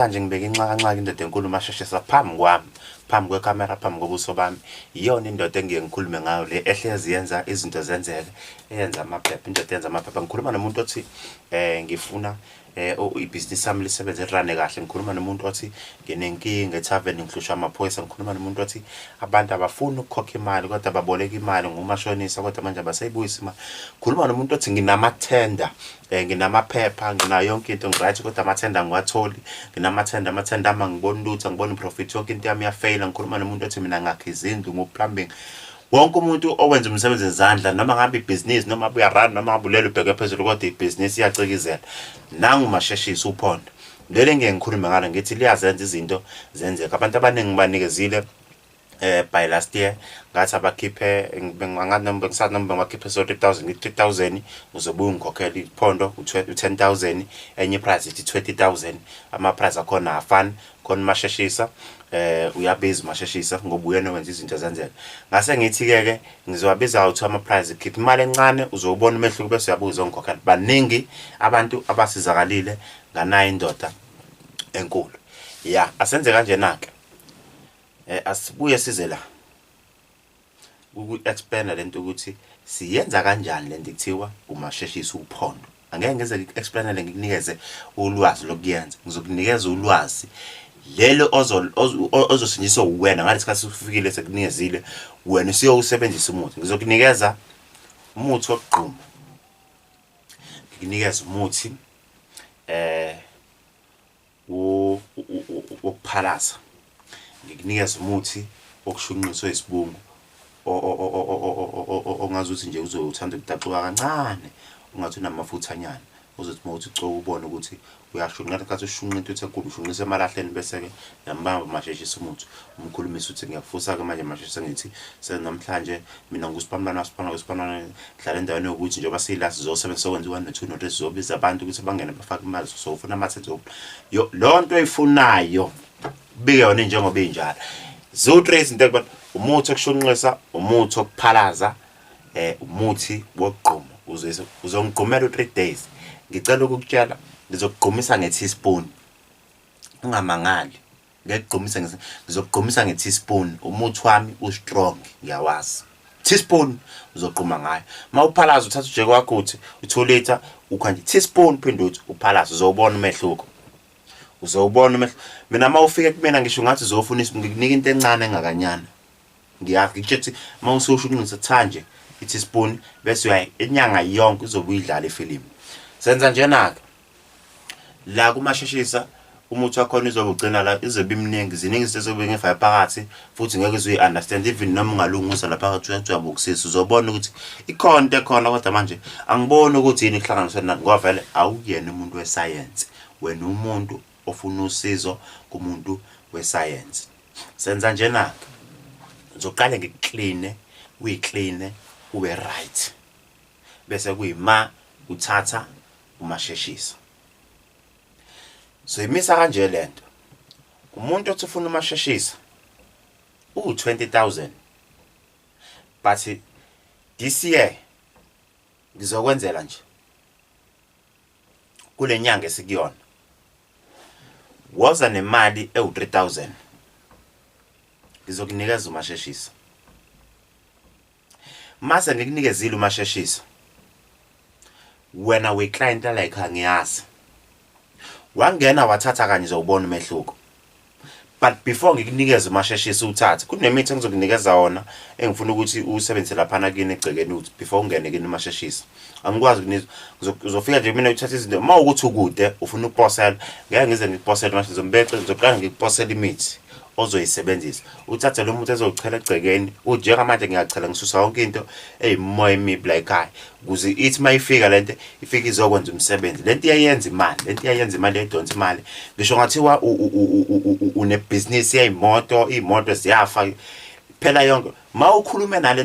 Manje ngibeke inxakanxaka indoda enkulu umasheshisa phambi kwami phambi kwekamera phambi kobuso bami iyona indoda engiye ngikhulume ngayo le ehlezi yenza izinto zenzeke eyenza amaphepha indoda yenza amaphepha ngikhuluma nomuntu othi eh ngifuna eh ibhizinisi sami lisebenze lirane kahle ngikhuluma nomuntu othi nginenkinga ethaveni ngihlushwa amaphoyisa ngikhuluma nomuntu othi abantu abafuni ukukhokha imali kodwa baboleka imali ngumashonisa kodwa manje abasayibuyisi imali ngikhuluma nomuntu othi nginamathenda um nginamaphepha nginayo yonke into ngiright kodwa amathenda angiwatholi nginamathenda amathenda ami angiboni lutho angiboni profit yonke into yami iyafeyila ngikhuluma nomuntu othi mina ngakhe izindlu nguplumbing wonke umuntu owenza umsebenzi ngezandla noma ngabe ibhizinisi noma abuya run noma ngabe ulele ubheke phezulu kodwa ibhizinisi iyacikizela nangu masheshisa uphondo leli ngeke ngikhulume ngalo ngithi liyazenza izinto zenzeka abantu abaningi banikezile eh by last year ngathi abakhiphe bengangathi noma bengisathi noma bengibakhiphe so 3000 ngithi 3000 uzobuya ungikhokhela iphondo u10000 enye price ithi 20000 ama price akhona afan khona masheshisa eh uyabiza masheshisa ngoba uyena wenza izinto zenzeka ngase ngithi ke ke ngizowabiza out ama price khipha imali encane uzobona umehluko bese uyabuza ongikhokhela baningi abantu abasizakalile nganayo indoda enkulu ya asenze kanjena ke Eh asibuye size la. Uku expanda lento ukuthi siyenza kanjani lento kuthiwa umasheshisa uphondo. Angeke ngize ngiexplainele ngikunikeze ulwazi lokuyenza. Ngizokunikeza ulwazi lelo ozosinjiswa uwena ngale sikhathi ufikile sekunikezile wena usiyowusebenzisa umuthi ngizokunikeza umuthi wokugquma ngikunikeza umuthi eh wokuphalaza ngikunikeza umuthi wokushunqiswa isibungu ongazi ukuthi nje uzobe uthanda ukudaxuka kancane ungathi unamafuthanyana uzothi uma uthi coka ubone ukuthi uyashunqela kathi ushunqa intuthu enkulu ushunqisa emalahleni bese-ke yambamba masheshisa umuthi umkhulumisa ukuthi ngiyakufusa-ke manje masheshisa ngithi senamhlanje mina ngusiphamlwana wasiphamla kwesiphamlwana dlala endaweni yokuthi njengoba siyila sizosebenzisa okwenza u-one no-two no-three sizobiza abantu ukuthi bangene bafake imali sofuna amathe loo nto oyifunayo bike yona njengoba injalo ziwu-three izinto ekubona umuthi okushunqisa umuthi okuphalaza um umuthi wokugquma uzongigqumela u-three days ngicela ukukutshela ngizokugqumisa nge-teaspoon ungamangali ngekugqumisa ngise ngizokugqumisa nge teaspoon umuthi wami u strong ngiyawazi teaspoon uzogquma ngayo mawuphalaza uthatha ujeke wakho uthi u 2 liter ukhanje teaspoon phinde uthi uphalaza uzobona umehluko uzobona umehluko mina mawufike kumina ngisho ngathi uzofuna ngikunika into encane engakanyana ngiyakutshela mawususho ukunqisa thanje i teaspoon bese uyayi inyanga yonke uzobuyidlala ifilimu senza njena ke La kumasheshisa umuthi wakhona izobe ugcina la izobe imningi ziningi izinto ezobe ngefaya phakathi futhi ngeke uzuyi understand even noma ungalungisa lapha ngathi uyajabukisisa uzobona ukuthi ikhona into ekhona kodwa manje angiboni ukuthi yini kuhlanganiswe nani ngoba vele awuyena umuntu wesayensi wena umuntu ofuna usizo kumuntu wesayensi senza njena-ke ngizoqale ngikukline uyikline ube right bese kuyima uthatha umasheshisa. Soyimisa kanje lento. Umuntu othi ufuna umasheshisa uwu 20000. But this year ngizokwenzela nje kulenyanga esikuyona woza nemali ewu 3000 ngizokunikeza umasheshisa Mase ngikunikezile umasheshiso. Wena we client like angiyazi. Wangena wathatha kanye uzobona umehluko. But before ngikunikeze umasheshiso uthathe kunemithi engizokunikeza wona engifuna ukuthi usebenzise lapha nakini egcekeni uthi before ungene kini umasheshiso. angikwazi ukunizwa ngizofika nje mina uthatha izinto uma ukuthi ukude ufuna ukuposela ngeke ngize ngikuposele manje ngizombexe ngizoqala ngikuposela imithi ozoyisebenzisa uthathe lo muntu ezochela egcekeni unjengamanje ngiyachela ngisusa yonke into eyimoya emibi la ekhaya kuze ithi uma ifika le nto ifike izokwenza umsebenzi le nto iyayenza imali le nto iyayenza imali yayidonsa imali ngisho ngathiwa unebhizinisi yayimoto iy'moto ziyafa phela yonke ma ukhulume nale